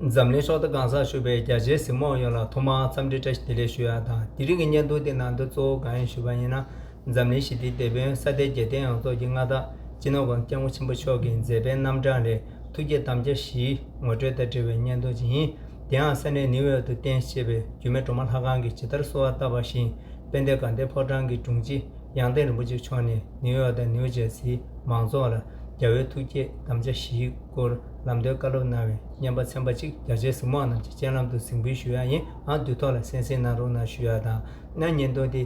འཛམ་གླིང་ཕྱོགས་མཐའ་གང་སར་བཞུགས་པའི་རྒྱ་ཆེའི་གཟིགས་མོ་ཡོངས་ལ་ཐོག་མར་འཚམས་འདྲི་བཀྲ་ཤིས་བདེ་ལེགས་ཞུ་ཡག་དང་དེ་རིང་གི་སྙན་ཐུང་དེ་ནང་དོན་གཙོ་བོ་གང་ཡིན་ཞུས་པ་ཡིན་ན་འཛམ་གླིང་ཞི་བདེའི་དེད་དཔོན་ས་སྡེ་རྒྱལ་བསྟན་ཡོངས་རྫོགས་ཀྱི་མངའ་བདག་སྤྱི་ནོར་བ་སྐྱབས་མགོན་ཆེན་པོ་མཆོག་གི་མཛད་པའི་རྣམ་གྲངས་ལས་ཐུགས་བསྐྱེད་དམ་བཅའ་བཞིའི་ངོ་སྤྲོད་དང་འབྲེལ་བའི་སྙན་ཐུང་ཅིག་ཡིན། དེའང་ས་གནས་ནིའུ་ཡོག་ཏུ་རྟེན་བཅས་པའི་རྒྱུད་སྨད་གྲོ་མ་ལྷ་ཁང་གིས་ཇི་ལྟར་གསོལ་བ་བཏབ་པ་བཞིན་དཔལ་ལྡན་དགའ་ལྡན་ཕོ་བྲང་གི་དྲུང་ཆེ་གཡང་སྟེང་རིན་པོ་ཆེ་མཆོག་ནས་ནིའུ་ཡོག་དང་ནིའུ་ཇར་སིའི་མང་ཚོགས་ལ་རྒྱ་བོད་ཐུགས་བསྐྱེད་དམ་བཅའ་བཞིའི་སྐོར། ལམ་སྟོན་བཀའ་སློབ་གནང་བའི་སྙན་པ་ཚན་པ་གཅིག་རྒྱ་ཆེའི་གཟིགས་མང་རྣམས་ཀྱི་སྤྱན་ལམ་དུ་གཟིགས་འབུལ་ཞུ་ཡ་ཡིན་ཨང་དུས་ཐོག་ལ་གསན་གཟིགས་གནང་རོགས་གནང་ཞུ་ཡ་དང་གནའ་སྙན་སྟོན་ཏེ་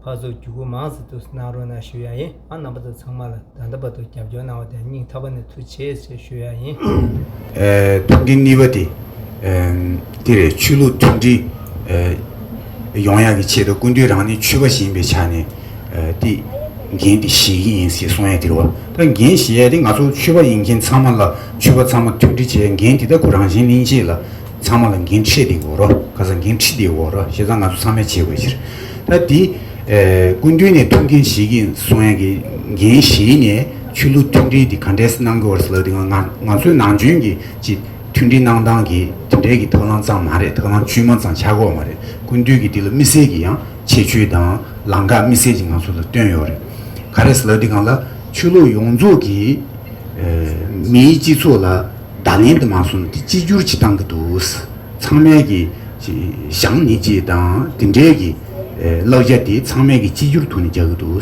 ཕག་གཟུགས་བརྒྱུད་སྐུ་མང་གཟིགས་ཐུབ་གནང་རོགས་གནང་ཞུ་ཡ་ཡིན་ཨང་རྣམ་པ་ཚོ་ཚང་མ་ལ་ད་ལྟ་བར་དུ་རྒྱབ་སྐྱོར་གནང་བ་དང་སྙིང་ཐག་པ་ནས་ཐུགས་ཆེ་ཆེ་ཞུ་ཡ་ཡིན། ཐུགས་ཀྱི་གཉིས་པ་དེ། འདིར་ཆོས་ལུགས་མཐུན་སྒྲིལ། ཡོང་ཡག་གི་ཆེད་དུ་ཀུན་འདུས་རང་ནི་ཆོས་པ་ཞིག་ཡིན་པའི་ཆ་ནས་ཏེ། འགན་དེ་བཞེས་ཀྱི་ཡིན་ཞེས་གསུང་ཡས་དིར་བ། ད་འགན་བཞེས་ཡས་དེ་ང་ཚོ་ཆོས་པ་ཡིན་མཁན་ཚང་མ་ལ་ཆོས་པ་ཚང་མ་མཐུན་སྒྲིལ་བྱས་ཡས་འགན་དེ་ད་ཁུ་རང་བཞིན་གླིང་རྗེ་ལ་ཚང་མ་ལ་འགན་འཁྲི་དེ་འོ་རོ་ཁ་ས་འགན་འཁྲི་དེ་འོ་རོ་བཞེས་ཚང་ང་ཚོ་ཚང་མས་བྱེད་དགོས་ཕྱིར། ད་དེ། ཀུན་འདུས་ནས་ཐུགས་འགན་བཞེས་ཀྱི་གསུང་ཡས་ཀྱི་འགན་བཞེས་ནས་ཆོས་ལུགས་མཐུན་སྒྲིལ་དེ་ག་འདྲས་མནང་དགོས་བ་ལ་དེ་ང་ང་ཚོའི་ནང་བྱོན་གྱི་ཅི། མཐུན་སྒྲིལ་གནང་སྟངས་ཀྱི་དེ་འབྲེལ་གྱི་ཐབས་ལམ་ཙམ་མ་རེད་ཐབས་ལམ་བཅོས་མ་ཙམ་ཆགས་ཁོག་མ་རེད་ཀུན་འདུས་ཀྱི་འདི་ལ་དམིགས་བསལ་གྱི་ཡང་ཆེ་བཅུའི་དང་ལང་ཁ་དམིགས་བསལ་གྱི་ང་ཚོ་ལ་བཏོན་ཡོད་རེད་ག་རེ་ཟེར་ལ་འདི་གང་ལ་ཆོས་ལུགས་ཡོངས་རྫོགས་ཀྱི་མིའི་སྤྱི་ཚོགས་ལ་བརྡ་ལན་དུ་མ་སོང་འདི་གཅིག་གྱུར་གྱིས་གཏང་གི་འདུག་ཚང་མལ་གྱི་ཞང་ནི་ཅེས་དང་དེ་འབྲེལ་གྱི་བསླབ་བྱ་འདི་ཚང་མལ་གྱི་གཅིག་གྱུར་དུ་ནི་རྒྱག་གི་འདུག།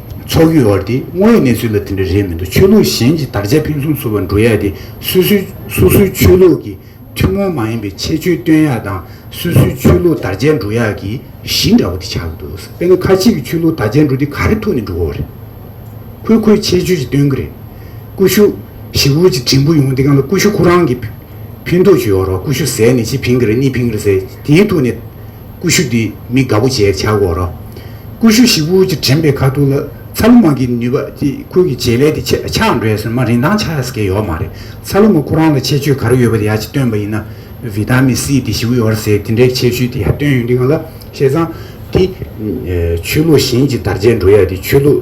ཚོགས་ཀྱི་དབར་དེ་སྔོན་གནས་ཚུལ་ལ་དེ་འདྲ་རེད་མི་འདུག་ཆོས་ལུགས་གཞན་གྱི་དར་ཆ་ཕུན་སུམ་ཚོགས་པ་འགྲོ་ཡག་དེ་སུ་སུའི་སོ་སོའི་ཆོས་ལུགས་ཀྱི་ཐུན་མོང་མ་ཡིན་པའི་ཁྱད་ཆོས་སྟོན་ཡག་དང་སུ་སུའི་ཆོས་ལུགས་དར་ཆ་འགྲོ་ཡག་གི་གཞི་འདྲ་བོ་དེ་ཆགས་ཀྱི་འདུག་དཔེར་ན་ཁ་ཅིག་གི་ཆོས་ལུགས་དར་ཆ་འགྲོ་དེ་ག་རེ་ཐུག་ནས་འགྲོ་བ་རེད། ཁོས་ཁོའི་ཁྱད་ཆོས་ཅིག་སྟོན་གི་རེད། ཀུ་ཤུ། ཞི་བུ་ཅིག་བྲིན་པོ་ཡོང་དེ་གང་ལ་ཀུ་ཤུ་ཁོ་རང་གིས་ཕུད་འདོད་ཆུ་ཡོད་རོགས་ཀུ་ཤུ་ཟས་ནི་ཅིག་ཕིང་གི་རེད་གཉིས་ཕིང་གི་རེད་ཟེར་དེའི་ཐུག་ནས། ཀུ་ཤུ་འདི་མི་དགའ་པོ་བྱས་བྱ་གོ་རོགས། ཀུ་ཤུ་ཞིག་བུ་གྱི་དྲན་པའི་ཁ་ཐུག་ལ་ཚ་ལུ་མ་གི་ནུས་པ་དེ་ཁོ་གི་བྱེད་ལས་དེ་ཆད་ཆག་འགྲོས་སོན་མ་རིན་ཐང་ཆག་ཡ་ས་ཀེ་ཡོག་མ་རེད་ཚ་ལུ་མ་ཁོ་རང་ལ་ཆད་ཆོད་ག་རེ་ཡོད་པ་དེ་ཡ་ཅི་སྟོན་པ་ཡིན་ན་བི་ཏཱ་མི་སི་དེ་ཞི་བུ་ཡོར་སེ་དེ་འདྲའི་ཆད་ཆོད་དེ་ཡ་སྟོན་ཡོད་འདི་གང་ལ་བཤད་ཙང་དེ་ཆོས་ལུགས་གཞན་གྱི་དར་ཆད་འགྲོ་ཡ་དེ་ཆོས་ལུགས་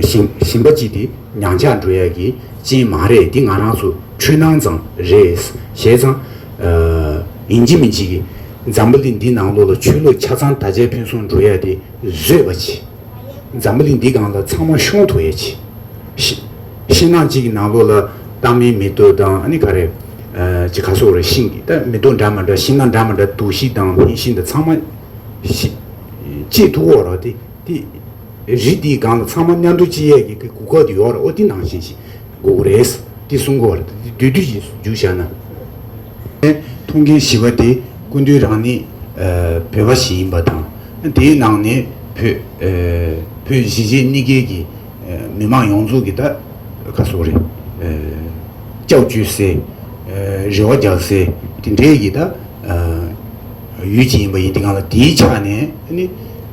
གཞན་གཞན་པ་གྱི་དེ་ཉང་ཆག་འགྲོ་ཡ་གི་ཅན་མ་རེད་དེ་ང་རང་ཚོ་འཁྲུལ་སྣང་ཙང་རེད་བཤད་ཙང། ཡིན་གཅིག་མིན་གཅིག་གིས་འཛམ་བུ་གླིང་འདི་ནང་ལོགས་ལ་ཆོས་ལུགས་ཆ་ཚང་ད་ཆའི་ཕན་སོང་འགྲོ་ཡ་དེ་བཟོས་པ་གྱིས། འཛམ་བུ་གླིང་འདི་གང་ལ་ཚང་མ་ཤོང་ཐུབ་ཡ་གྱིས། ཤི། ཤི་ནང་གཅིག་གི་ནང་ལོགས་ལ་ཏང་མིན་མི་ལྟོས་དང་ཨ་ནི་ག་རེ། ཅི་ག་སོགས་རེ་ཤིང་གིས་ད་མི་ལྟོས་འདྲ་མ་འདྲ་ཤི་ནང་འདྲ་མ་འདྲ་འདུག་ཤི་དང་ཕན་ཤིན་ད་ཚང་མ། ཤི། ཅེས་ཐུགས་འོག་རོ་དེ་དེ། རི་འདིའི་སྒང་ལ་ཚང་མ་མཉམ་འགྲོ་གཅིག་ཡས་ཀྱི་གི་གུ་ཁོག་དུ་ཡོག་ར་ཨོ་ཏི་ནང་བཞིན་ཞིག་གུ་གུ་རེད། ཏི་གསུང་གུ་བ་ར་ཏི་ཏི་དུས་དུས་ཀྱི་ཞིག་འཇུག་བཞག་ན། ཐུགས་འགན་བཞི་བ་དེ་ཀུན་འདུས་རང་ནི་བོད་པ་ཞིག་ཡིན་པ་དང། དེའི་ནང་ནས་བོད་བོད་གཞིས་བྱེས་གཉིས་ཀའི་གི་མི་དམངས་ཡོངས་རྫོགས་ཀྱི་ད་ཁ་སོ་རེ་ལྕགས་གཅུས་སའི། རེ་བ་རྒྱག་སའི་དེ་འདྲའི་གི་ད་ཡུལ་གཅིག་ཡིན་པ་ཡིན་དེ་གང་ལ་དེའི་ཆ་ནས་ནི།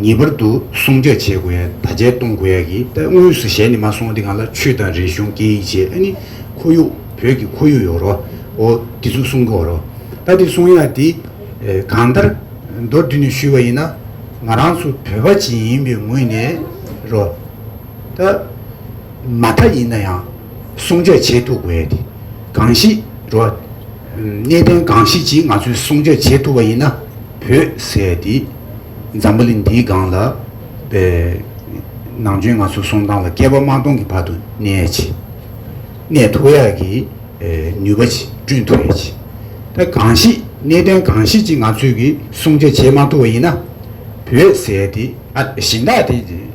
ངེས་པར་དུ་སྲུང་སྐྱོབ་བྱེད་དགོས་ཡ་ད་ཆའི་ཏུང་གོ་ཡ་གི་ད་དངོས་སུ་གཞས་ནི་མ་སོང་དེ་གང་ལ་ཆུས་དང་རི་གཞུང་སྐྱེ་ཡིག་བྱེད་ཨ་ནི་ཁོར་ཡུག་བོད་ཀྱི་ཁོར་ཡུག་ཡོ་རོ་ཨོ་དེ་ཚུ་སྲུང་གོ་རོ་ད་དེ་སྲུང་ཡ་དེ་གང་ལྟར་མདོར་བསྡུས་ནས་ཞུས་བ་ཡིན་ན་ང་རང་ཚུ་བོད་པ་གཅིག་ཡིན་པའི་ངོས་ནས་རོ་ད། མ་མཐའ་ཡིན་ན་ཡང་སྲུང་སྐྱོབ་བྱེད་ཐུབ་དགོས་ཏེ། གང་ཞིག་རོ། གནད་དོན་གང་ཞིག་ཅིག་ང་ཚོས་སྲུང་སྐྱོབ་བྱེད་ཐུབ་པ་ཡིན་ན་བོད་ཟེར་དེ་འཛམ་བུ་གླིང་འདིའི་སྒང་ལ་ནང་ཆོས་ང་ཚོ་སྲུང་སྟངས་ལ་བསྐལ་པ་མང་སྟོང་གི་བར་དུ་གནས་ཆེ། གནས་ཐུབ་ཡག་གི་ནུས་པ་ཆེ་བསྐྲུན་ཐུབ་ཡག་ཆེ། ད་གང་ཞིག་གནད་དོན་གང་ཞིག་ཅིག་ང་ཚོས་ཀྱིས་སྲུང་སྐྱོབ་བྱེད་མ་ཐུབ་པ་ཡིན་ན་བོད་ཟེར་དེ། གཞན་དག་དེ།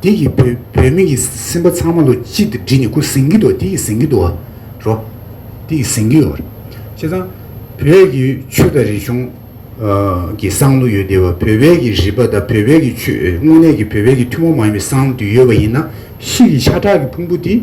འདི་ཡི་བུད་མེད་ཀྱིས་སེམས་པ་ཚང་མ་ལོ་གཅིག་ཏུ་བསྒྲིལ་ནས་ཁུ་ཟིང་གི་དོ་འདི་ཡི་ཟིང་གི་དོ། རོ། འདི་ཡི་ཟིང་གི་རོ། བྱས་ཙང། བོད་ཀྱི་ཆོས་དང་རིག་གཞུང། གི་བསང་ལུགས་ཡོད་དེ་བ་བོད་པའི་ཀྱི་རིག་པ་དང་བོད་པའི་ཀྱི་ཆོས་དངོས་གནས་ཀྱི་བོད་པའི་ཀྱི་ཐུན་མོང་མ་ཡིན་པའི་བསང་དུ་ཡོད་པ་ཡིན་ན། ཤིག་གི་ཤ་ཁྲག་གི་ཕུང་པོ་དེ།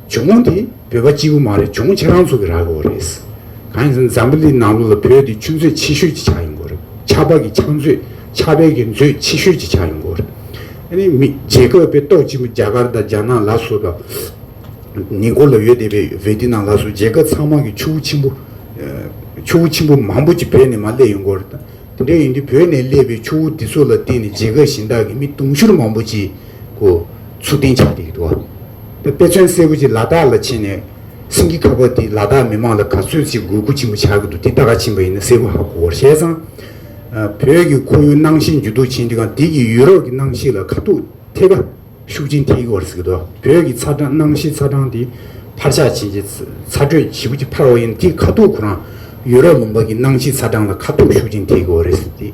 ཇོ་མོ་འདི་བོད་པ་གཅིག་པུ་མ་རེད་ཇོ་མོ་ཁྱེད་རང་ཚོ་གི་ར་གོ་རེད། གང་ཡིན་ཟེར་ན་འཛམ་བུ་འདི་ནང་ལོ་ལ་བོད་འདི་ཆུ་མཛོད་ཆེ་ཤོས་ཀྱི་ཆགས་ཡོང་གོ་རེད་ཆགས་པ་གི་ཆགས་མཛོད་ཆགས་པའི་གི་མཛོད་ཆེ་ཤོས་ཀྱི་ཆགས་ཡོང་གོ་རེད། ཨ་ནི་མི་རྗེ་ཁོ་པའི་ཏོག་གཅིག་མ་རྒྱ་གར་དང་རྒྱ་ནག་ལ་སོ་ད་ནི་གོ་ལ་ཡོད་དེ་བས་བོད་འདི་ནང་ལ་སོ་རྒྱལ་ཁབ་ཚང་མ་གི་ཆུ་བོ་ཆེན་པོ་ཆུ་བོ་ཆེན་པོ་མང་པོ་ཀྱི་བོད་ནས་མ་སླེབས་ཡོང་གོ་རེད་དེ་འདྲ་ཡིན་དུས་བོད་ནས་སླེབས་པའི་ཆུ་བོ་འདི་ཚོ་ལ་བརྟེན་ནས་རྒྱལ་ཁབ་གཞན་དག་གི་མི་དུང་ཕྱུར་མང་པོ་ཅིག་གོ། ཚུར་བསྟན་ཕྱག་འདེབས་ཀྱི་དུ་བ། དཔེ་མཚོན་གསལ་བོ་ཅིག་ལ་དྭགས་ལ་ཕྱིན་ནས། སེང་གེ་ཁ་བ་འདིས་ལ་དྭགས་མི་མང་ལ་ག་ཚོད་ཅིག་དགོས་མཁོ་ཆེན་པོ་ཆགས་ཀྱི་འདུག་འདི་ད་ག་ཕྱིན་པ་ཡིན་ན་གསལ་བོ་ཧ་གོ་བར་བཤད་ཙང། བོད་ཀྱི་ཁོར་ཡུག་སྣང་ཞེན་ཇུས་གཏོགས་ཆེན་འདི་གང་དེ་གྱིས་ཡུལ་རོགས་ཀྱི་སྣང་ཤེས་ལ་ཁ་ཐུག་ཐེ་ཁ་ཤུགས་ཆེན་ཐེག་བར་གཟིགས་དོ། བོད་ཀྱི་ཚ་གྲང་སྣང་ཤེས་ཚ་གྲང་འདི་ཕར་ཆག་ཕྱིན་ཅི་ཚ་དྲོད་བྱིས་པོ་ཅིག་འཕར་བ་ཡིན་ན་དེ་ཁ་ཐུག་ཁོ་རང་ཡུལ་རོགས་ལུང་པ་གྱི་སྣང་ཤེས་ཚ་གྲང་ལ་ཁ་ཐུག་ཤུགས་ཆེན་ཐེག་གི་བ་རེད་ཟེར་ཏེ།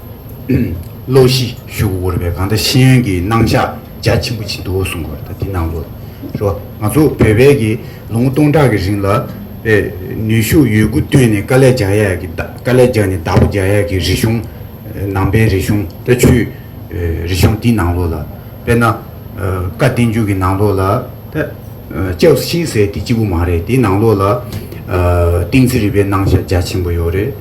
བློ་གཞི་བཞུགས་དགོས་པའི་གང་ལྟར་ཤེས་ཡོན་གྱི་སྣང་གཞག་རྒྱ་ཆེན་པོ་ཅིག་འདུག་གསུངས་པ་དེ་གནང་རོགས། ང་ཚོ་བོད་པས་ཀྱི་ལོ་ངོ་སྟོང་ཕྲག་གི་རིང་ལ། ནུས་ཤུགས་ཡོད་རྒུ་བཏོན་ནས་དཀའ་ལས་རྒྱག་ཡ་གི་དཀའ་ལས་རྒྱག་ནས་བདག་པོ་རྒྱག་ཡ་གི་རིག་གཞུང། ནང་པའི་རིག་གཞུང་ལྟ་ཆུའི་རིག་གཞུང་འདི་ནང་ལོགས་ལ། དཔེར་ན། བཀའ་བསྟན་འགྱུར་གྱི་ནང་ལོགས་ལ། ལྕགས་བཞིན་ཟེར་དེ་གཅིག་པུ་མ་རེད་དེའི་ནང་ལོགས་ལ། ཏིང་འཛིན་རིག་པའི་སྣང་གཞག་རྒྱ་ཆེན་པོ་ཡོད་རེད།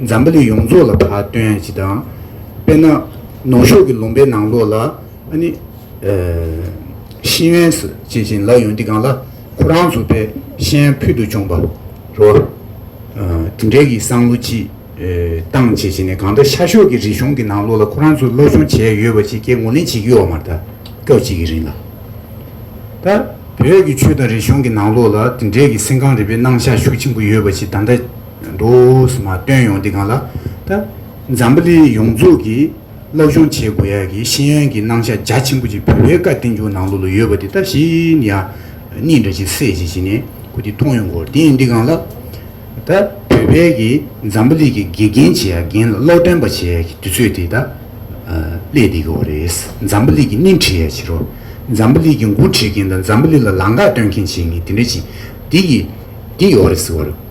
འཛམ་བུ་གླིང་ཡོངས་རྫོགས་ལ་བར་སྟོན་ཡང་ཅི་དང། དཔེར་ན། ནུ་ཞོ་གི་ལུང་པའི་ནང་ལོགས་ལ། ཤིན་ཡོན་སི་ཅེས་བྱིན་ལ་ཡོན་ཏི་གང་ལ། ཁོ་རང་ཚོ་པའི་ཤན་ཕུལ་དུ་བྱུང་བ། རོ། དེ་འདྲའི་གི་སང་ལོ་ཅི། བཏང་བྱས་བྱས་ནས་གང་ལྟར་ཤར་ཤོག་གི་རིག་གཞུང་གི་ནང་ལོགས་ལ་ཁོ་རང་ཚོ་སློབ་སྦྱོང་བྱས་ཡོད་པ་ཅིག་ཀྱེ་ངོ་ལེན་བྱེད་ཀྱི་ཡོག་མར་ད། སྐབས་གཅིག་གི་རིང་ལ། ད། བོད་ཀྱི་ཆོས་དང་རིག་གཞུང་གི་ནང་ལོགས་ལ་དེ་འདྲའི་གི་སེམས་ཁམས་རིག་པའི་སྣང་ཆ་ཤུགས་ཆེན་པོ་ཡོད་པ་ཅིག་ད་ལྟ། འདུག་མ་བཏོན་ཡོང་འདི་གང་ལ་ད། འཛམ་བུ་གླིང་ཡོངས་རྫོགས་ཀྱིས་བསླབ་སྦྱོང་བྱེད་དགོས་ཡ་གི་ཤེས་ཡོན་གྱི་སྣང་ཆ་རྒྱ་ཆེན་པོ་ཅིག་བོད་པའི་བཀའ་བསྟན་འབྱུང་ནང་ལོ་ལོ་ཡོད་པ་འདི་ད་ཤིན་ཡ་གཉིས་འདྲ་ཅིག་སེ་ཅིག་བྱེད་ནས་ཁུ་འདི་མཐོང་ཡོང་གོ་དེ་ཡིན་འདི་གང་ལ་ད། བོད་པའི་གིས་འཛམ་བུ་གླིང་གི་དགེ་རྒན་བྱེད་ཡ་རྒན་ལ་ཀློག་འདོན་པ་བྱེད་ཡ་གི་དུས་ཚོད་དེ་ད་སླེབས་བསྡད་ཀྱི་འོ་རེད་འཛམ་བུ་གླིང་གི་སྣེ་འཁྲིད་ཡ་བྱེད་རོགས་འཛམ་བུ་གླིང་གི་མགོ་འཁྲིད་མཁན་དང་འཛམ་བུ་གླིང་ལ་ལང་ཀ་སྟོན་མཁན་བྱེད་མཁན་དེ་འདྲ་ཅིག་འདི་གི་འདི་ཡོ་རེད་ཟེར་བ་རེད།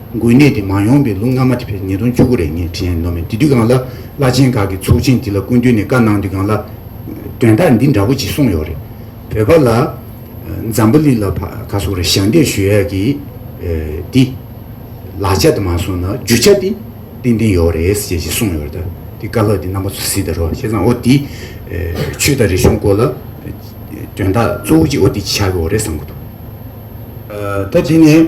འགོས་ནད་འདི་མ་ཡོང་པའི་ལུགས་སྔ་མ་དེ་ཕེབས་ཉིས་སྟོང་བཅུ་དགུ་རེད་ངས་དྲན་ནོ་མོད་དེ་དུས་གང་ལ་བླ་ཆེན་ཁག་གི་ཚོགས་ཆེན་འདི་ལ་སྐུ་མདུན་ནས་བཀའ་གནང་དུས་གང་ལ། དོན་དག་འདི་འདྲ་བོ་ཅིག་གསུངས་ཡོད་རེད། བོད་པ་ལ། འཛམ་བུ་གླིང་ལ་ཕ་ག་སོགས་རེ་ཞབས་འདེགས་ཞུ་ཡག་གི། འདི། ལག་ཆ་དུ་མ་སོང་ན་རྒྱུ་ཆ་འདི། ཏན་ཏན་ཡོག་རེད་ཟེར་ཅེས་གསུངས་ཡོད་རེད་དེ་བཀའ་སློབ་འདི་རྣམ་པ་ཚོ་གཟིགས་དེ་རོགས་ཤེས་ཙང་འོ་འདི། ཆོས་དང་རིག་གཞུང་སྐོར་ལ། དོན་དག་གཙོ་བོ་གཅིག་འོ་འདི་ཆགས་ཀྱི་འོ་རེད་བསམ་གྱི་འདུག། ད་དེ་ནས།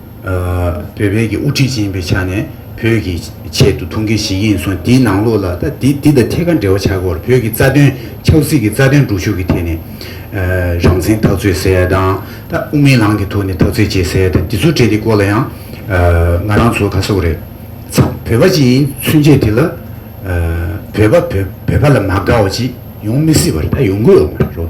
བོད་བོད་ཀྱི་དབུ་ཁྲིད་ཅིག་ཡིན་པའི་ཆ་ནས་བོད་ཀྱི་ཆེད་དུ་ཐུགས་འགན་ཞིག་ཡིན་སོང་དེའི་ནང་ལོགས་ལ་ད་འདི་འདི་དང་ཐད་ཀར་འབྲེལ་བ་ཆགས་སྐོར་བོད་ཀྱི་རྩ་དོན་ཆབ་སྲིད་ཀྱི་རྩ་དོན་སྒྲུག་ཤུགས་ཀྱི་ཐད་ནས་རང་བཙན་ཐག་གཅོད་ཟེར་ཡ་དང་ད་དབུ་མའི་ལམ་གྱི་ཐོག་ནས་ཐག་གཅོད་བྱེད་ཟེར་ཡ་དང་འདི་ཚོ་འདྲེས་དེ་སྐོར་ལ་ཡང་ང་རང་ཚོ་ཁ་སོག་རེད་ཚ་བོད་པ་ཅིག་ཡིན་ཚུན་ཆད་དེ་ལ་བོད་པ་བོད་བོད་པ་ལ་མ་དགའ་བ་ཅིག་ཡོང་མི་སྲིད་པ་རེད་ད་ཡོང་གི་ཡོད་མ་རེད་རོ་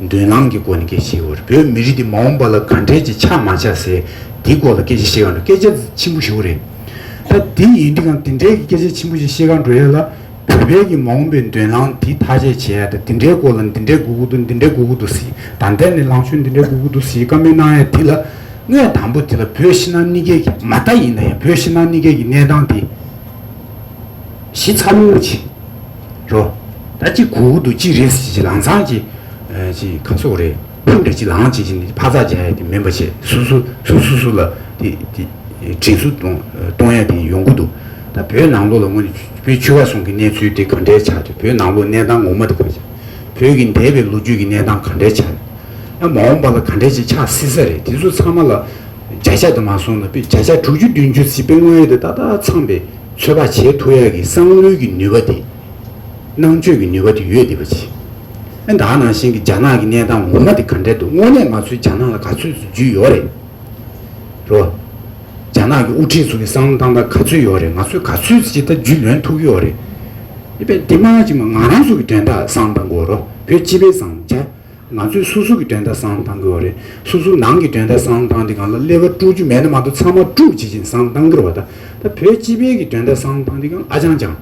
མདུན་ལམ་གྱི་སྒོ་ནས་སྐད་ཆའི་བར་བོད་མི་རིགས་འདི་མ་འོངས་པ་ལ་ག་འདྲས་ཀྱི་ཆ་མ་ཆགས་སའི་དེའི་སྐོར་ལ་སྐད་ཆ་བཤད་གང་འགྲོ་སྐད་ཆ་འདི་ཆེན་པོ་ཞིག་རེད། ད་དེ་ཡིན་དུས་ཀྱང་དེ་འདྲས་ཀྱི་སྐད་ཆ་ཆེན་པོ་ཞིག་བཤད་གང་འགྲོ་ཡ་ལ་བོད་པའི་གྱི་མ་འོངས་པའི་མདུན་ལམ་དེ་ཐག་བཅད་བྱེད་ཡ་ད་དེ་འདྲའི་སྐོར་ལ་འདི་འདྲས་གུ་གུ་འདུག་འདི་འདྲས་གུ་གུ་འདུག་ཟེ་ད་འདྲས་ནས་ལངས་ཕྱོད་འདི་འདྲས་གུ་གུ་འདུག་ཟེ་ཀ་མེད་གནང་ཡ་དེ་ལ་དངོས་དང་པོ་དེ་ལ་བོད་ཕྱི་ནང་གནས་སྐལ་གྱི་མ་ལྟ་ཡིན་ན་ཡང་བོད་ཕྱི་ནང་གནས་སྐལ་གྱི་གནས་སྟངས་དེ་གཞི་ཚ་བོ་ཆེ། རོ། ད་གཅིག་གུ་གུ་དུ་གཅིག་རེས་གཅིག་ལང་ཚང་གཅིག། གཅིག་ཁ་སོག་རེས་ཕུག་འདྲ་གཅིག་ལང་གཅིག་བྱས་ནས་ཕ་ཚག་བྱ་ཡ་དེ་མིན་པ་ཆེ་སུ་སུ་སུ་སུ་སུ་ལ་དེ་དེ་དྲིན་སུ་གཏོང་ཡ་དེ་ཡོང་གི་འདུག་ད་བོད་ནང་ལོག་ལ་སྔོན་ནས་བོད་ཆུ་བ་སོང་གི་གནས་ཚུལ་དེ་ག་འདྲའི་ཆགས་ཏེ་བོད་ནང་ལོག་གནས་སྟངས་ངོ་མ་དེ་ག་ཆགས་བོད་ཀྱི་འདས་པའི་ལོ་རྒྱུས་ཀྱི་གནས་སྟངས་ག་འདྲའི་ཆགས་ཡོད་ཡ་མ་འོངས་པ་ལ་ག་འདྲའི་ཆགས་སྲིད་ས་རེད་དེ་ཚོ་ཚང་མ་ལ། བརྒྱ་ཆ་དུ་མ་སོང་ན་དཔེ་བརྒྱ་ཆ་དྲུག་ཅུ་བདུན་ཅུ་ཚིག་དཔེ་དངོས་ཡོད་དུ་ཏག་ཏག་ཚང་པའི་ཚོད་དཔག་བྱེད་ཐུབ་ཡག་གི་བསམ་བློའི་གི་ནུས་པ་དེ། ནང་ཆོས་ཀྱི་ནུས་པ་དེ་ཡོད་བསྡད་པ་ཅི། ཨེ་ད་ནང་བཞིན་གྱི་རྒྱ་ནག་གི་གནས་སྟངས་ངོ་མ་དེ་ག་འདྲས་འདུག་དངོས་གནས་ང་ཚོའི་རྒྱ་ནག་ལ་ག་ཚོད་ཚོད་རྒྱུས་ཡོད་རེད། རེད་བ། རྒྱ་ནག་གི་དབུ་ཁྲིད་ཚོ་གི་བསམ་བློ་ཏང་ཏང་ག་ཚོད་ཡོད་རེད་ང་ཚོས་ག་ཚོད་ཅི་ལྟར་རྒྱུས་ལོན་ཐུབ་ཀྱི་ཡོད་རེད། ཨེ་དཔེ་འདི་མ་གཅིག་མ་ང་རང་ཚོ་གི་དོན་དག་བཟང་དང་གོ་རོ་བོད་སྤྱི་པའི་བཟང་རྒྱ། ང་ཚོས་སོ་སོ་གི་འགྲན་ཟླ་བཟང་གཏང་དགོས་བ་རེད། སོ་སོ་ནང་གི་འགྲན་ཟླ་བཟང་གཏང་དེ་གང་ལ་ཀླད་ཀ་དཀྲུག་རྒྱུ་མེད་ན་མ་གཏོགས་ཚང་མ་དཀྲུག་བྱེད་ཅིང་བཟང་གཏང་གིར་བ་ད། ད་བོད་སྤྱི་པའི་གི་འགྲན་ཟླ་བཟང་གཏང་དེ་གང་ཨ་ཅང་ཅང།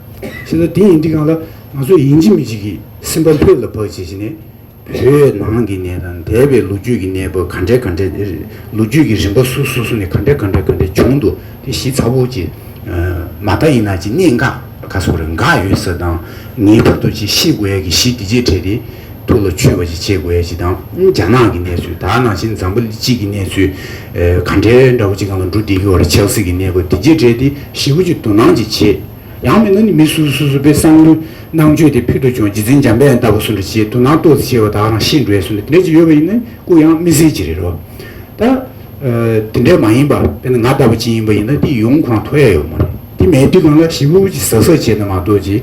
ཤེས་ད་དེ་ཡིན་དེ་གང་ལ་ང་ཚོ་ཡིན་གཅིག་མིན་གཅིག་གི་སེམས་པ་ལྷོད་ལ་བབས་བྱེད་བྱེད་ནས། བོད་ནང་གི་གནས་དང་འདས་པའི་ལོ་རྒྱུས་ཀྱི་གནས་བབས་ག་འདྲའི་ག་འདྲའི། ལོ་རྒྱུས་ཀྱི་རིམ་པ་སུ་སོ་སོ་ནས་ག་འདྲའི་ག་འདྲའི་ག་འདྲའི་བྱུང་འདུག་དེ་གཞི་ཚ་བོ་གྱི། མ་མཐའ་ཡིན་ན་གྱི་གནད་འགག་ག་སོགས་རེད་འགག་ཡོད་ས་དང། ངེས་པར་དུ་གྱི་ཤེས་དགོས་ཡ་གི་གཞི་དེ་རྗེས་དྲས་ཏེ། ཐུགས་ལ་ཆུད་པ་ཞིག་བྱེད་དགོས་ཡ་ཞིག་དང་རྒྱ་ནག་གི་གནས་ཚུལ་དག་ནང་བཞིན་འཛམ་བུ་གཅིག་གི་གནས་ཚུལ་ག་འདྲའི་འདྲ་པོ་ཅིག་གང་ལ་འགྲོ་བདེ་གི་བར་ཆགས་སྲེད་ཀྱི་གནས་སྒོ་དེ་རྗེས་དྲན་ཏེ་ཞི་བོ་ཅིག་དོ་སྣང་ཅིག་བྱེད། ཡང་མིན་ན་ནི་མི་སུ་སུ་སུ་པའི་བསམ་བློའི་སྣང་སྤྱོད་དེ་ཕུལ་དུ་བྱུང་རྗེས་འཛིན་འཇམ་དཔལ་ལྟ་བུ་སུ་འདྲ་ཞིག་དོ་སྣང་ལྟོས་སུ་བྱེད་པ་དག་རང་ཤི་འགྲོའི་སུ་འདྲ་དེ་འདྲ་ཅིག་ཡོད་པ་ཡིན་ན་སྐུ་ཡང་སྨིན་སྲིད་ཅི་རེད་རོ། ད། དེ་འདྲ་མ་ཡིན་པར་དཔེར་ན་ང་ལྟ་བུ་ཅིག་ཡིན་པ་ཡིན་ན་དེ་ཡོང་ཁོ་རང་ཐུགས་ཡ་ཡོད་མ་རེད་དེ་མེད་དུས་གང་ལ་ཞི་བོ་ཅིག་ཟག་ཟག་བྱས་ན་མ་གཏོགས་ཅི།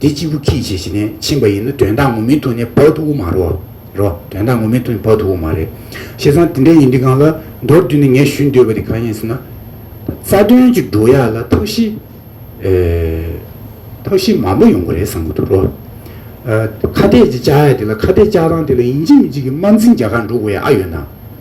འདི་གཅིག་པུ་ཁྱིས་བྱས་ཞེས་ནས་ཕྱིན་པ་ཡིན་ན་དོན་དག་ངོ་མའི་ཐོག་ནས་བབ་ཐུབ་པོ་མ་རོ། རོ། དོན་དག་ངོ་མའི་ཐོག་ནས་བབ་ཐུབ་པོ་མ་རེད། བྱས་ཙང་དེ་འདྲ་ཡིན་དུས་གང་ལ་མདོར་བསྡུས་ནས་ངས་ཞུ་འདོད་པ་དེ་གང་ཡིན་ཟེར་ན། རྩ་དོན་གྱི་འགྲོ་ཡ་ལ་ཐབས་ཤེས། ཐབས་ཤེས་མང་པོ་ཡོང་གི་རེད་བསམ་གྱི་འདུག་རོ། ཁ་གཏད་ཀྱི་བཅའ་ཡ་དེ་ལ་ཁ་གཏད་བཅའ་སྟངས་དེ་ལ་ཡིན་གཅིག་མིན་གཅིག་གི་དམར་འཛིང་རྒྱ་གར་འགྲོ་དགོས་ཡ་ཨ་ཡོད་ན།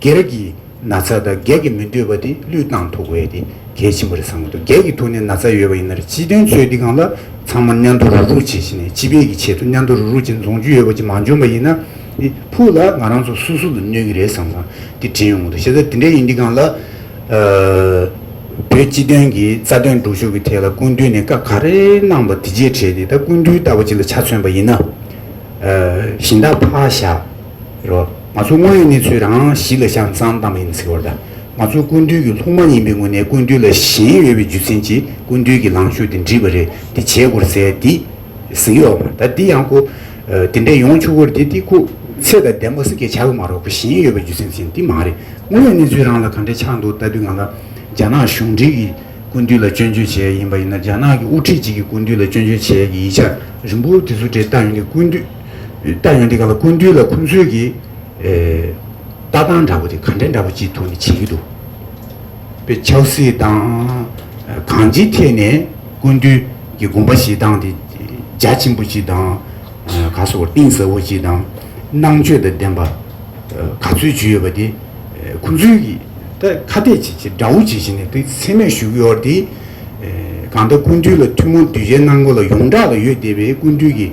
སྒེར་གྱི་ན་ཚ་དང་སྒེར་གྱི་མི་འདོད་པ་དེ་བློས་བཏང་ཐུབ་དགོས་དེ་གལ་ཆེན་པོ་རེད་བསམ་གྱི་འདུག་སྒེར་གྱི་ཐུགས་ནས་ན་ཚ་ཡོད་པ་ཡིན་ན་རེད་སྤྱི་དོན་ཚོད་འདི་གང་ལ་ཚང་མར་མཉམ་དུ་རུག་རུག་བྱེད་བཞིན་ནས་སྤྱི་བེད་ཀྱི་ཆེད་དུ་མཉམ་དུ་རུག་རུག་བྱེད་འཛོང་རྒྱུ་ཡོད་པ་ཅིག་མ་འཇོན་པ་ཡིན་ན་འདི་ཕུག་ལ་ང་རང་ཚོ་སུ་སུ་ལ་གནོད་ཀྱི་རེད་བསམ་བསམ་འདི་དྲན་ཡོང་གི་འདུག་བྱས་ཙང་འདི་འདྲ་ཡིན་འདི་གང་ལ་བོད་སྤྱི་དོན་གྱི་རྩ་དོན་སྒྲུབ་ཕྱོགས་ཀྱི་ཐད་ལ་སྐུ་མདུན་ནས་བཀའ་ག་རེ་གནང་བ་དེ་རྗེས་དྲན་ནས་ད་སྐུ་མདུན་ལྟ་བ་ཅིག་ལ་ཆ་མཚོན་པ་ཡིན་ན་བཞིན་ད་ཕ་བཞག་རོགས། ང་ཚོ་དངོས་ཡོད་གནས་ཚུལ་རང་རང་གཞི་ལ་བཞག་ནས་བསམ་བློ་བཏང་བ་ཡིན་པ་ཚིག་བར་དང། ང་ཚོ་སྐུ་མདུན་གྱི་ལྷུག་མ་ཡིན་པའི་ངོས་ནས་སྐུ་མདུན་ལ་ཞེན་ཡོད་པའི་རྒྱུ་མཚན་གྱིས་སྐུ་མདུན་གྱི་ལངས་ཕྱོགས་འདི་འདྲིས་པ་རེད་འདི་བྱས་དགོར་ཟེར་འདི་ཟེར་གྱི་ཡོད་མ་ད་འདི་ཡང་ཁུ། འདི་འདྲས་ཡོང་ཆུག་གོ་འདི་འདི་ཁུ། ཚེ་དང་ལྡན་པ་སེ་གས་བྱ་གི་མ་རོག་གོ་ཞེན་ཡོད་པའི་རྒྱུ་མཚན་གྱིས་འདི་མ་རེད་དངོས་ཡོད་གནས་ཚུལ་རང་ལ་ག་འདྲས་ཆགས་འདུག་ལྟ་དུས་ང་ལ། རྒྱ་ནག་གཞུང་འབྲེལ་གྱིས་སྐུ་མདུན་ལ་སྐྱོན་བརྗོད་བྱས་ཡིན་པ་ཡིན་ན་རྒྱ་ནག་གི་དབུ་ཁྲིད་ཅིག་གིས་སྐུ་མདུན་ལ་སྐྱོན་བརྗོད་བྱས་ཀྱི་ཡིད་ཆགས་རིང་པོ་དེ་ཚོ་འདྲས་ལྟ་ཡོང་དུས་སྐུ་མདུན། ལྟ་ཡོང་འདི་ག་ལ་ཀུན་འདུས་ལ་ཁོང་ཚོས་ཀྱི་ལྟ་སྟངས་འདྲ་པོ་དེ་གང་དྲན་འདྲ་པོ་ཅིག་ཐོག་ནས་བྱེད་ཀྱི་འདུག་པའི་ཆབ་སྲིད་དང་གང་ཅིའི་ཐད་ནས་ཀུན་འདུས་ཀྱི་དགོངས་པ་ཞིག་དང་དེ་རྒྱ་ཆེན་པོ་ཅིག་དང་ག་སོ་གཏིང་ཟབ་པོ་ཅིག་དང་ནང་ཆོས་དང་ལྡན་པ་ག་ཚོད་ཅིག་ཡོད་པ་དེ་ཁོང་ཚོས་ཀྱི་ད་ཁ་གཏད་ཅིག་ཅིག་འདྲ་བོ་ཅིག་བྱེད་ནས་དེ་ཚད་མས་བཞུགས་ཡོད་དེ་གང་ལྟར་ཀུན་འདུས་ལ་ཐུན་མོང་གདུལ་བྱའི་གནང་སྒོ་ལ་ཡོངས་གྲགས་ལ་ཡོད་བསྡད་པའི་ཀུན་འདུས་ཀྱི་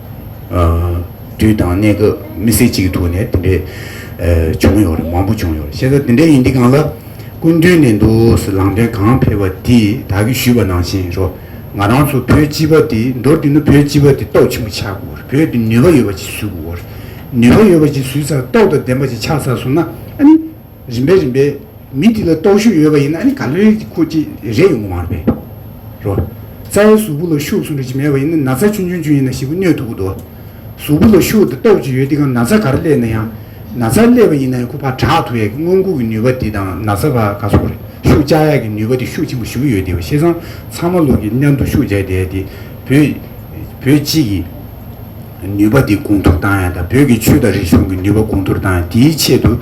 དུས་དང་གནས་སྐབས་མི་སེར་གཅིག་གི་ཐུགས་ནས་དེ་འདྲས་བྱུང་ཡོད་རེད་མང་པོ་བྱུང་ཡོད་རེད་བཤད་ས་དེ་འདྲས་ཡིན་དུས་གང་ལ་སྐུ་མདུན་ནས་འདུག་སུ་ལང་འདྲེན་གང་ཕེབས་པ་དེས་དག་གིས་ཞུས་པ་ནང་བཞིན་རོ། ང་རང་ཚོ་བོད་སྤྱི་པ་དེ་མདོར་བསྡུས་ན་བོད་སྤྱི་པ་དེ་ཏོག་ཆེན་པོ་ཆགས་དགོས་རེད་བོད་དེ་ནུས་པ་ཡོད་པ་ཅིག་བཟོས་དགོས་རེད་ནུས་པ་ཡོད་པ་ཅིག་བཟོས་ཚར་ཏོག་དང་ལྡན་པ་ཅིག་ཆགས་ཚར་སོང་ན་ཨ་ནི། རིམ་པས་རིམ་པས་མི་འདི་ལ་རྟོག་ཞུགས་ཡོད་པ་ཡིན་ན་ནི་ག་ལེར་གྱི་ཁུག་ཅིག་རེ་ཡོང་གི་མ་རེད་པས། རོ། རྩྭའི་གཟུགས་པོ་ལ་ཤུགས་གསུངས་རེ་ཅིག་མེད་པ་ཡིན་ན་ན་ཚ་ཆུང་ཆུང་ཅུང་ཡིན་ན་ཞིག་པོ་སྣོད་དུ་འུ་དོ། གཟུགས་པོ་ལ་ཤུགས་དེ་རྟོག་ཅིག་ཡོད་དེ་གང་ན་ཚ་ག་རེ་སླེད་ན་ཡང། ན་ཚ་སླེད་པ་ཡིན་ན་ཡང་ཁུག་ཕར་དྲག་ཐུག་ཡག་གི་སྔོན་ཁུག་གི་ནུས་པ་དེ་དང་ན་ཚ་ཕར་ག་ཚོགས་རེ་ཤུགས་བཅག་ཡག་གི་ནུས་པ་དེ་ཤུགས་ཆེན་པོ་ཞུགས་ཡོད་དེ་བ་ཤེས་ཙང་ཚང་མ་ལུག་གི་མཉམ་དུ་ཤུགས་བཅག་བསྡད་དེ་བོད། བོད་སྤྱི་གི། ནུས་པ་འདི་གོང་མཐོར་བཏང་ཡང་དང་བོད་ཀྱི་ཆོས་དང་རིག་གཞུང་གི་ནུས་པ་གོང་མཐོར་བཏང་ཡང་དེའི་ཆེད་དུ།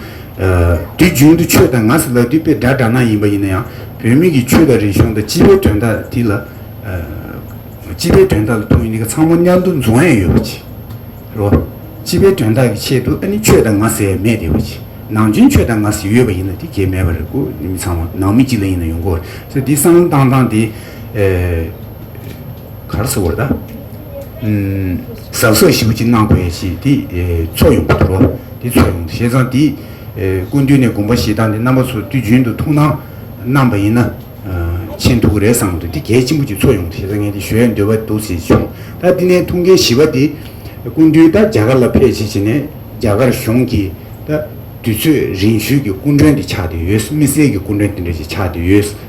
དུས་རྒྱུན་དུ་ཆོས་དང་ངག་གསུ་ལག་དུས་པས་སྒྲ་བསྒྲགས་ན་ཡིན་པ་ཡིན་ན་ཡང་བོད་མི་གི་ཆོས་དང་རིག་གཞུང་དང་སྤྱི་པའི་དོན་དག་དེ་ལ། སྤྱི་པའི་དོན་དག་ལ་ཐུགས་ཡིན་ནི་ག་ཚང་མ་མཉམ་དུ་འཛོམས་ཡས་ཡོད་པ་བྱས་རོགས། སྤྱི་པའི་དོན་དག་གི་ཆེད་དུ་ཨ་ནི་ཆོས་དང་ངག་ཟེར་ཡས་མེད་དེ་བ་བྱས། ནང་བྱོན་ཆོས་དང་ངག་ཟེར་ཡོད་པ་ཡིན་ན་དེ་གས་མེད་པ་རེད་ཀོ་མི་ཚང་མ་ནང་མི་གཅིག་ལ་ཡིན་ན་ཡོང་གོ་རེད་ས་དེ་གསང་བཏང་བཏང་དེ། གར་ཟེར་བ་ལ། ཟག་ཟག་ཞིམ་གྱིས་བརྣགས་པའི་ཞེས་དེ་ཚོགས་ཡོངས་པ་དོར་བ་དེ་ཚོགས་ཡོངས་བཞེས་ཙང་དེ་ཀུན་བཏུས་ནས་བསྒོམ་པ་ཞེ་སྡང་གི་རྣམ་པ་ཚོ་དུས་རྒྱུན་དུ་མཐོང་ན་རྣམས་པ་ཡིན་ན་ཆེས་མཐུག་གི་རེད་བསམ་དུ་དེ་གལ་ཆེན་པོ་གྱི་ཚོགས་ཡོངས་བཞེས་ཙང་ངས་དེ་ཞོའི་འདོད་པ་འདུག་ཟེར་བྱུང་ད་དེ་ནས་ཐུགས་འགན་བཞེས་པ་དེ་ཀུན་བཏུས་ད་རྒྱ་གར་ལ་ཕེབས་བྱེད་བྱེད་ནས་རྒྱ་གར་གཞུང་གིས་ད་དུས་ཚོད་རིང་ཤོས་ཀྱི་སྐུ་མགྲོན་དེ་ཆགས་བསྡད་ཡོད་མི་སེར་གྱི་སྐུ་མགྲོན་དེ་འདྲ་ཞིག་ཆགས་བསྡད་ཡོད།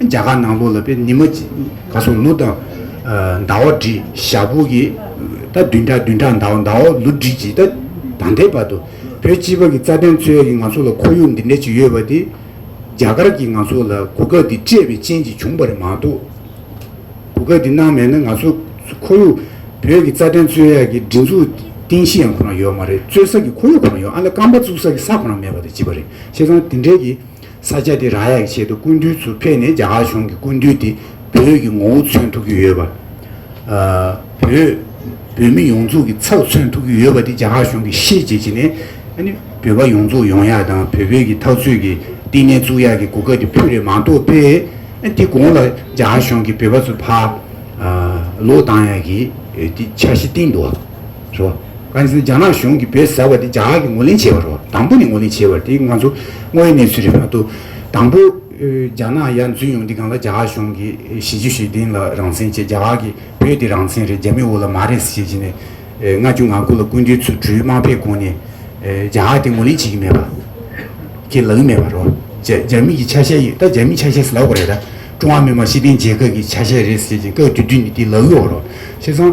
རྒྱ་གར་ནང་ལོགས་ལ་པའི་ཉི་མ་ག་སོང་ལུགས་དང། ཟླ་བ་དྲི་ཞག་ཕུག་གི་ད་བདུན་ཕྲག་བདུན་ཕྲག་ཟླ་བ་ཟླ་བ་ལུགས་དྲི་གཅིག་ད་ད་ལྟའི་བར་དུ། བོད་སྤྱི་བར་གྱི་རྩ་དོན་འཚོལ་ཡ་གི་ང་ཚོ་ལ་ཁོར་ཡུག་འདི་འདྲ་ཅིག་ཡོད་པ་དེ། རྒྱ་གར་གྱིས་ང་ཚོ་ལ་གོ་སྐབས་འདི་སྤྲད་པའི་རྐྱེན་གྱིས་བྱུང་བ་རེད་མ་གཏོགས། གོ་སྐབས་འདི་གནང་མེད་ན་ང་ཚོ་ཁོར་ཡུག་བོད་ཀྱི་རྩ་དོན་འཚོལ་ཡ་གི་སྒྲིག་འཛུགས་རྟེན་གཞི་ཡང་ཁོ་རང་ཡོད་མ་རེད་རྩོད་ས་ཀྱི་ཁོར་ཡུག་ཁོ་རང་ཡོད་ཨ་ལ་རྐང་པ་བཙུགས་ས་ཀྱི་ས་ཁོ་རང་མེད་པ་དང་བཅས་པ་རེད་ཤེས་ཙང་དེ་འདྲའི་གི། ས་ཆ་དེ་རང་ཡག་གི་ཆེད་དུ་སྐུ་མདུན་ཚུར་ཕེབས་ནས་རྒྱ་གར་གཞུང་གི་སྐུ་མདུན་དེ་བོད་ཀྱི་ངོ་བོ་མཚོན་ཐུབ་ཀྱི་ཡོད་པ། བོད་བོད་མི་ཡོངས་རྫོགས་ཀྱི་ཚབ་མཚོན་ཐུབ་ཀྱི་ཡོད་པ་དེ་རྒྱ་གར་གཞུང་གིས་ཤེས་བྱེད་བྱས་ནས། བོད་པ་ཡོངས་རྫོགས་ཡོང་ཡག་དང་བོད་བོད་ཀྱི་ཐག་གཅོད་ཀྱི་བསྟི་གནས་བཙུགས་ཡག་གི་གོ་སྐབས་དེ་ཕུད་རེ་མང་ཐོག་སྤེལ། དེ་གོང་ལ་རྒྱ་གར་གཞུང་གིས་བོད་པ་ཚོ་ཕར་ལོག་བཏང་ཡག་གི་འདི་འཆར་གཞི་བཏིང་འདུག་བ། རེད། ཨ་ཟེར་རྒྱ་ནག་གཞུང་གིས་བོད་ཟེར་བ་དེ་རྒྱ་ནག་གིས་ངོས་ལེན་བྱས་པ་རེད། དང་པོ་ནས་ངོས་ལེན་བྱས་པ་དེ་ང་ཚོ་དངོས་ཡོད་གནས་ཚུལ་རེད་མ་གཏོགས། དང་པོ་རྒྱ་ནག་ཡར་འཛུལ་ཡོང་དུས་གང་ལ་རྒྱ་གར་གཞུང་གིས་གཞིས་བཞུགས་ཞེ་བདུན་ལ་རང་བཙན་བཅད་རྒྱ་གར་གྱིས་བོད་དེ་རང་བཙན་རེད་རྒྱ་མི་འོ་ལ་མ་རེད་ཟེར་གྱི་ནས་ལྔ་བཅུ་ང་དགུ་ལ་སྐུ་མདུན་ཚུལ་གྲོས་དམག་ཕེབས་གོང་ནས་རྒྱ་གར་དེ་ངོས་ལེན་བྱེད་ཀྱི་མེད་པ་ཁས་ལེན་མེད་པ་རེད། རྒྱ་མི་གྱི་ཆ་ཤས་ཡོད་ད་རྒྱ་མིའི་ཆ་ཤས་སུ་ལོག་པ་རེད་ད། ཀྲུང་ཧྭ་མི་དམངས་སྤྱི་མཐུན་རྒྱལ་ཁབ་ཀྱི་ཆ་ཤས་རེད་ཟེར་གྱི་བཀའ་བརྒྱུད་དུས་ནས་དེ་ལག་ལུས་བ་རེད། བྱས་ཙང།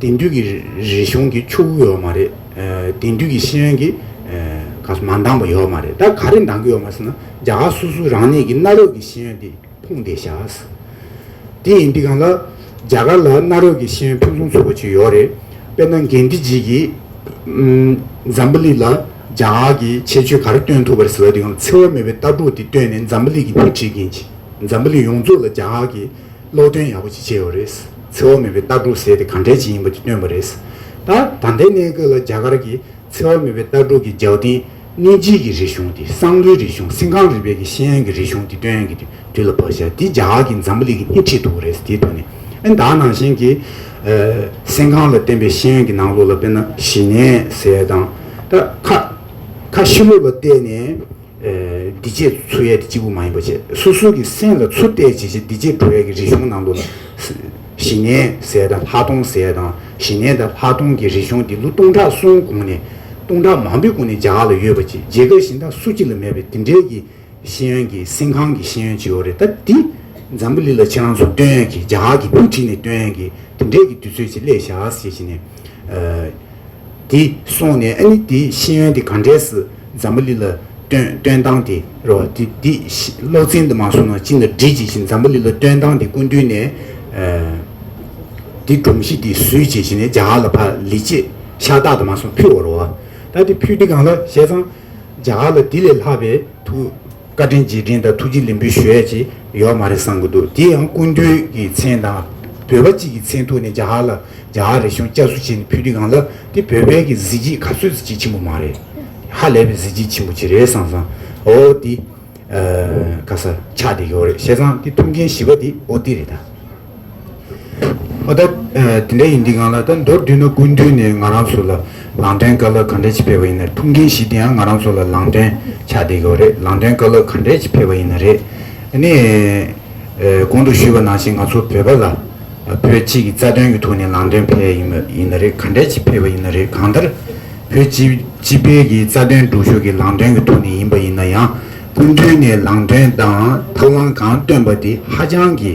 དེང་དུས་ཀྱི་རིག་གཞུང་གི་ཆུ་བོ་ཡོད་མ་རེད། དེང་དུས་ཀྱི་ཤེས་ཡོན་གྱི་ག་ས་མ་འདང་པ་ཡོད་མ་རེད་ད་ག་རེ་འདང་གི་ཡོད་མ་ཟེར་ན་རྒྱ་གར་སོ་སོའི་རང་ཉིད་ཀྱི་གནའ་རབས་ཀྱི་ཤེས་ཡོན་དེ་ཕུང་བསྡད་བཞག་ཨ་ཟེར། དེ་ཡིན་དུས་གང་ལ་རྒྱ་གར་ལ་གནའ་རབས་ཀྱི་ཤེས་ཡོན་ཕུན་སུམ་ཚོགས་པ་ཅིག་ཡོད་རེད། དཔེར་ན་འགན་འཁྲི་ལྗིད་ཀྱིས་འཛམ་བུ་གླིག་ལ་རྒྱ་གར་གྱི་ཁྱད་ཆོས་ག་རེ་སྟོན་ཐུབ་པ་རེད་ཟེར་བ་དེ་ཡང་འཚེ་བ་མེད་པའི་ལྟ་གྲུག་དེ་བཏོན་ནས་འཛམ་བུ་གླིག་གི་མིག་འབྱེད་ཀྱིན་འཛམ་བུ་གླིག་ཡོངས་རྫོགས་ལ་རྒྱ་གར་གྱི་སློབ་སྟོན་ཡག་པོ་ཅིག་བྱས་ཡོད་རེད། འཚེ་བ་མེད་པའི་ལྟ་གྲུབ་ཟེར་དེ་གང་འདྲའི་ཅིག་ཡིན་པ་དེ་སྟོན་པ་རེད། ད་ད་ལྟའི་གནས་སྐབས་ལ་རྒྱ་གར་གྱི་འཚེ་བ་མེད་པའི་ལྟ་གྲུབ་ཀྱི་ཇའོ་ཏིང་གནོད་སྦྱིན་གྱི་རིག་གཞུང་དེ་སང་ལོའི་རིག་གཞུང་སིན་ཀང་རི་བེ་གི་ཤེས་ཡོན་གྱི་རིག་གཞུང་དེ་སྟོན་གྱི་འདུག་དུས་ལ་བབ་ཤག་དེ་རྒྱ་གར་གྱི་འཛམ་བུ་གླིག་གི་སྣེ་ཁྲིད་འདུག་རེད་དེའི་དོན་ནི་ཨ་མདའ་ནང་བཞིན་གྱི་སིན་ཀང་ལ་བརྟེན་པའི་ཤེས་ཡོན་གྱི་ནང་ལོགས་ལ་དཔེར་ན་ཞི་ནས་ཟེར་དང། ད་ཁ་ཁ་ཤི་ལུགས་ལ་བལྟས་ནས། བདེ་སྐྱིད་འཚོལ་ཡས་དེ་གཅིག་པུ་མ་ཡིན་པ་བྱས། སོ་སོ་གི་སེམས་ལ་ཚུར་བལྟས་བྱས་རྗེས་བདེ་སྐྱིད་འགྲོ་ཡས་ཀྱི་རིག་གཞུང་ནང་དུ་ལ། ཞི་གནས་ཟས་དང་ལྷག་མཐོང་ཟས་དང་ཞི་གནས་དང་ལྷག་མཐོང་གི་རིག་གཞུང་འདི་ལོ་སྟོང་ཕྲག་གསུམ་གོང་ནས་སྟོང་ཕྲག་མང་པོའི་གོང་ནས་རྒྱ་གར་ལ་ཡོད་པ་ཅི་རྗེས་འགའ་ཞིག་ད་སུ་གཅིག་ལ་མེད་པའི་དེ་འདྲའི་གི་ཤེས་ཡོན་གི་སེམས་ཁང་གི་ཤེས་ཡོན་ཅིག་ཡོད་རེད་ད་འདི་འཛམ་བུ་གླིག་ལ་ཁྱེད་རང་ཚོ་སྟོན་ཡས་ཀྱི་རྒྱ་གར་གི་བུ་ཁྲིད་ནས་སྟོན་ཡས་ཀྱི་དེ་འདྲའི་གི་དུས་ཚོད་ཅིག་སླེ་ཞག་ཞེས་བྱས་ནས། དེ་སོང་ནས་ཨ་ནི་དེའི་ཤེས་ཡོན་དེ་ག་འདྲས་སུ་འཛམ་བུ་གླི་ལ་སྟོན་སྟོན་སྟངས་དེ་རེད་བ། དེ་དེ་སློག་ཚན་དུ་མ་སོང་ན་ཅི་ལ་འགྲིག་ཅེས་བཞིན་འཛམ་བུ་གླི་ལ་སྟོན་སྟངས་དེ་ཀུན་བསྡུས་ནས། དེ་སྒྲོམ་གཞི་དེ་བཟོས་ཅེས་བཞིན་ནས་རྒྱ་གར་ལ་ཕ་ལི་ཅེས་ཤ་སྟག་དུ་མ་སོང་ཕུལ་བ་རེད་བ། ད་དེ་ཕུལ་དེ་གང་ལ་བཤད་ཙང་རྒྱ་གར་ལ་དེ་ལས་ལྷག་པའི་དུ། བཀའ་དྲིན་རྗེས་དྲིན་དང་ཐུགས་རྗེ་ལེན་འབུལ་ཞུ་ཡས་ཅིག་ཡོད་མ་རེད་བསམ་གྱི་འདུག་དེ་ཡང་སྐུ་མདུན་གྱི་མཚན་དང། བོད་པ་གཅིག་གི་མཚན་ཐུགས་ནས་རྒྱ་གར་ལ་རྒྱ་གར་རེ་ཤོང་བཅའ་སུ་བྱས་ནས་ཕུལ་དུས་གང་ལ་དེ་བོད་པའི་གི་གཟི་བརྗིད་ག་ཚོད་ཀྱི་ཆེན་པོ་མ་རེད། ཧ་ལས་པའི་གཟི་བརྗིད་ཆེན་པོ་ཅིག་རེད་བསམ་བསམ་ཨོ་ཏི། ཨ། ཁ་སར་ཆགས་བསྡད་ཀྱི་འོ་རེད་བཤད་ཙང་དེ་ཐུགས་འགན་བཞི་པ་དེ་ཨོ་ཏི་རེད་ད། ཨོ་ད། དེ་འདྲ་ཡིན་འདི་གང་ལ་ད་མདོར་བསྡུས་ན་དགུན་དུས་ནས་ང་རང་ཚོ་ལ་ལངས་སྟན་དཀའ་ལག་ག་འདྲ་ཅིག་འཕེལ་བ་ཡིན་ན་ཐུགས་འགན་ཞིག་དེ་ཡང་ང་རང་ཚོ་ལ་ལངས་སྟན་ཆགས་བསྡད་དགོས་རེད་ལངས་སྟན་དཀའ་ལག་ག་འདྲ་ཅིག་འཕེལ་བ་ཡིན་ན་རེད་ནི། གོང་དུ་ཞུས་པ་ནང་བཞིན་ང་ཚོ་བོད་པ་ལ་བོད་སྤྱི་གི་རྩ་དོན་གྱི་ཐོག་ནས་ལངས་སྟན་འཕེལ་ཡིན་ན་རེད་ག་འདྲ་ཅིག་འཕེལ་བ་ཡིན་ན་རེད་གང་ལྟར་བོད་སྤྱི་སྤྱི་འཕེལ་གྱི་རྩ་དོན་སྒྲུབ་ཕྱོགས་ཀྱི་ལངས་སྟན་གྱི་ཐོག་ནས་ཡིན་པ་ཡིན་ན་ཡང་དགུན་དུས་ནས་ལངས་སྟན་དང་ཐབས་ལམ་གང་བཏོན་པ་དེ་ཧ་ཅང་གི།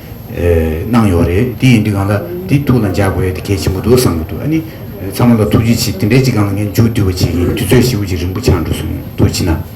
གནང་ཡོད་རེད་དེ་ཡིན་དུས་གང་ལ་དེ་ཐུགས་ལ་འཇགས་དགོས་ཡོད་དེ་གལ་ཆེན་པོ་འདུག་བསམ་གྱི་འདུག་ཨ་ནི་ཚང་མ་ལ་ཐུགས་རྗེ་ཆེ་དེ་འདྲའི་གཅིག་གང་ལ་ངས་མཇུག་བསྡུ་བ་ཅིག་ཡིན་དུས་ཚོད་ཤི་བོ་ཅིག་རིང་པོ་ཆགས་འགྲོ་སོང་དུས་ཕྱི་ན།